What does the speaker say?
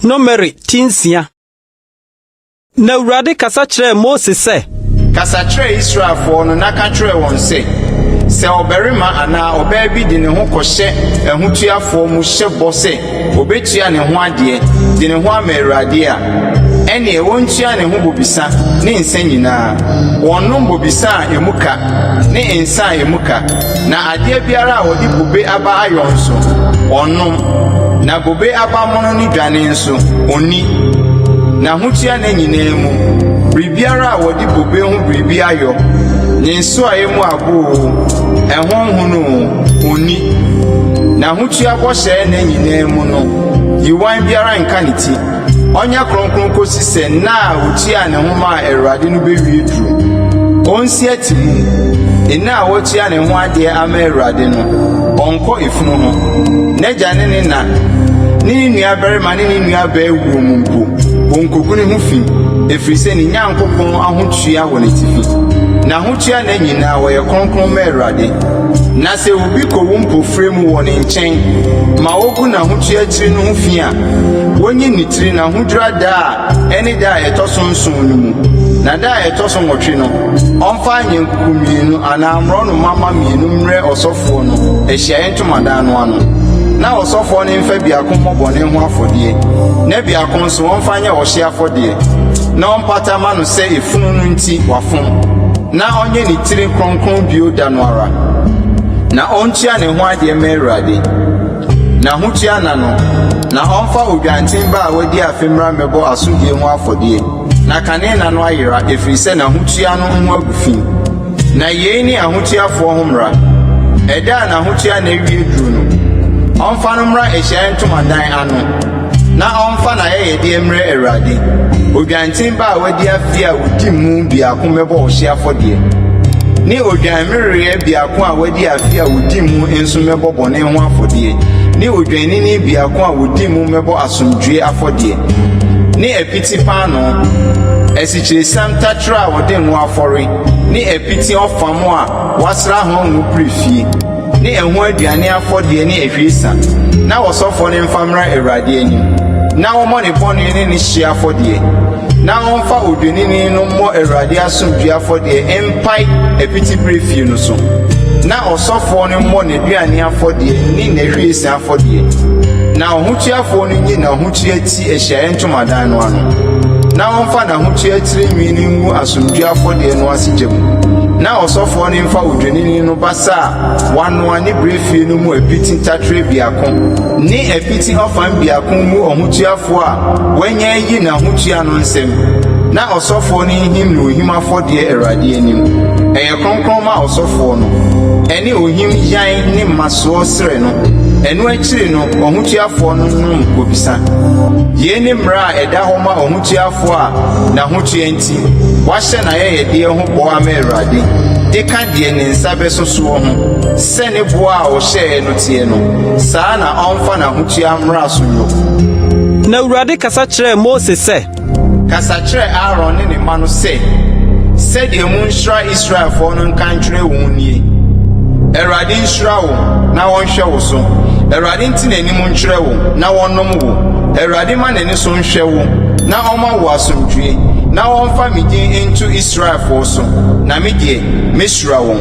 Nomere ti nsia. Na Awurade kasa kyerɛɛ Mose sɛ. Kasa kyerɛ Israelfoɔ no na ka kyerɛ wɔn sɛ, Sɛ ɔbarima anaa ɔbaa bi de ne ho kɔhyɛ ahotuafoɔ mu hyɛ bɔ sɛ. obetua ne ho adeɛ, de ne ho ama Awurade a, ɛneɛ wɔntua ne ho bobesa ne nsã nyinaa, wɔnnom bobesa a emu ka ne nsã a emu ka, na adeɛ biara a wɔde bobe aba ayɔ nso, ɔnnom, na bobe aba mono ne dwane nso, ɔnni. Na hotua ne nyinaa mu, biribiara a wɔde bobe ho biribi ayɔ, ne nsoaeɛ mu abo oo, ɛho nhono oo, Onni. N'ahotua bɔhyɛ nna nyinaa mu no, yiwan biara nka ne ti. Ɔnyɛ kronkron kosi sɛ nna a otuaa ne ho maa Awurade no bewie duru. Onsi ati mum. Nna a watua ne ho adeɛ ama Awurade no, ɔnkɔ efunu ho. N'agya ne ne na ne ne nuabarima ne ne nuabaa wuo mu mpo, onkogu ne ho fi, ɛfiri sɛ ne Nyankopɔn ahotua wɔ n'atifi. N'ahotua nna nyinaa, ɔyɛ kronkron ma Awurade. Na sɛ obi kowu mpofirɛ mu wɔ ne nkyɛn ma ogu n'ahotua tiri no ho fi a, wonyi ne tiri na ahodwira da a ɛne da a ɛtɔ so nson no mu, na da a ɛtɔ so nwɔtwe no, ɔmfa anyankuku mmienu anaa mmorɔnoma mma mmienu mmrɛ ɔsɔfoɔ no ahyiaeɛ ntomadan no ano, na ɔsɔfoɔ no mfa biako mmɔ bɔne ho afɔdeɛ, na biako nso ɔmfa nyɛ ɔhyeɛ afɔdeɛ, na ɔmpata mma no sɛ efunu no nti wafom. Na ɔnyɛ ne tiri kronkron bio da no ara, na ɔntua ne ho adeɛ mma Awurade, na ahotua nna no, na ɔmfa odwanten ba a wadi afe mmra mmɛbɔ asodie ho afɔdeɛ, na kane nna no ayera, ɛfiri sɛ n'ahotua no ho agu fi. Na yei ne ahotuafoɔ ho mmara, Ɛda a n'ahotua nna awie duru no, ɔmfa no mmra ahyiaeɛ ntomadan ano, Na ɔmfa n'ayɛyɛdeɛ mmrɛ Awurade. Odwanten ba a wadi afe a ɔdi mu biako mmɛbɔ ɔhyeɛ afɔdeɛ, ne odwammereɛ biako a wadi afe a ɔdi mu nso mmɛbɔ bɔne ho afɔdeɛ, ne odwennini biako a ɔdi mu mmɛbɔ asomdwoeɛ afɔdeɛ, ne apiti paanoo, asikyiresiam taterɛ a wɔde ngo afɔre, ne apiti ɔfam a wɔasra ho ngo pire fie. ne ɛho aduane afɔdeɛ ne ahwiesa na ɔsɔfoɔ no mfa mmra Awurade anim na ɔmmɔ ne bɔne ne ne hyeɛ afɔdeɛ, na ɔmfa odwennini no mmɔ Awurade asomdwoeɛ afɔdeɛ mpae apitiberɛfie no so, na ɔsɔfoɔ no mmɔ n'aduane afɔdeɛ ne n'ahwiesa afɔdeɛ, na ɔhotuafoɔ no nyi n'ahotua ti. si ahyiaeɛ ntomadan no ano, na ɔmfa n'ahotua tiri nwi no ngu asomdwoeɛ afɔdeɛ no ase gya mu, na ɔsɔfoɔ no mfa odwennini no basa a wɔanoa ne berɛfie no mu apiti taterɛ biako ne apiti ɔfã biako ngu ɔhotuafoɔ a wanya ayi n'ahotua no nsam, na ɔsɔfoɔ no nhim no ohim afɔdeɛ Awurade anim. Ɛyɛ kronkron ma ɔsɔfoɔ no. Ɛne ohim yan ne mmasoɔ serɛ no. Ɛno akyi no, Akyiri no, ɔhotuafoɔ no nom bobesa. Yei ne mmara a ɛda hɔ ma ɔhotuafoɔ a n'ahotua nti wahyɛ n'ayɛyɛdeɛ ho bɔ ama Awurade, de ka deɛ ne nsa bɛso soɔ ho, sɛ ne boɔ a ɔhyɛeɛ no teɛ no, saa ara na ɔmfa n'ahotua mmara so nnwo. Na Awurade kasa kyerɛɛ Mose sɛ. Kasa kyerɛ Aaron ne ne mma no sɛ, 'Sɛdeɛ monhyira Israelfoɔ no nka nkyerɛ wɔn nie, Awurade nhyira wo na ɔnhwɛ wo so, Awurade nte n'anim nkyerɛ wo na ɔnnom wo, Awurade mma n'ani so nhwɛ wo na ɔmma wo asomdwoeɛ, na ɔmfa me din nto Israelfoɔ so, na me deɛ, mɛhyira wɔn.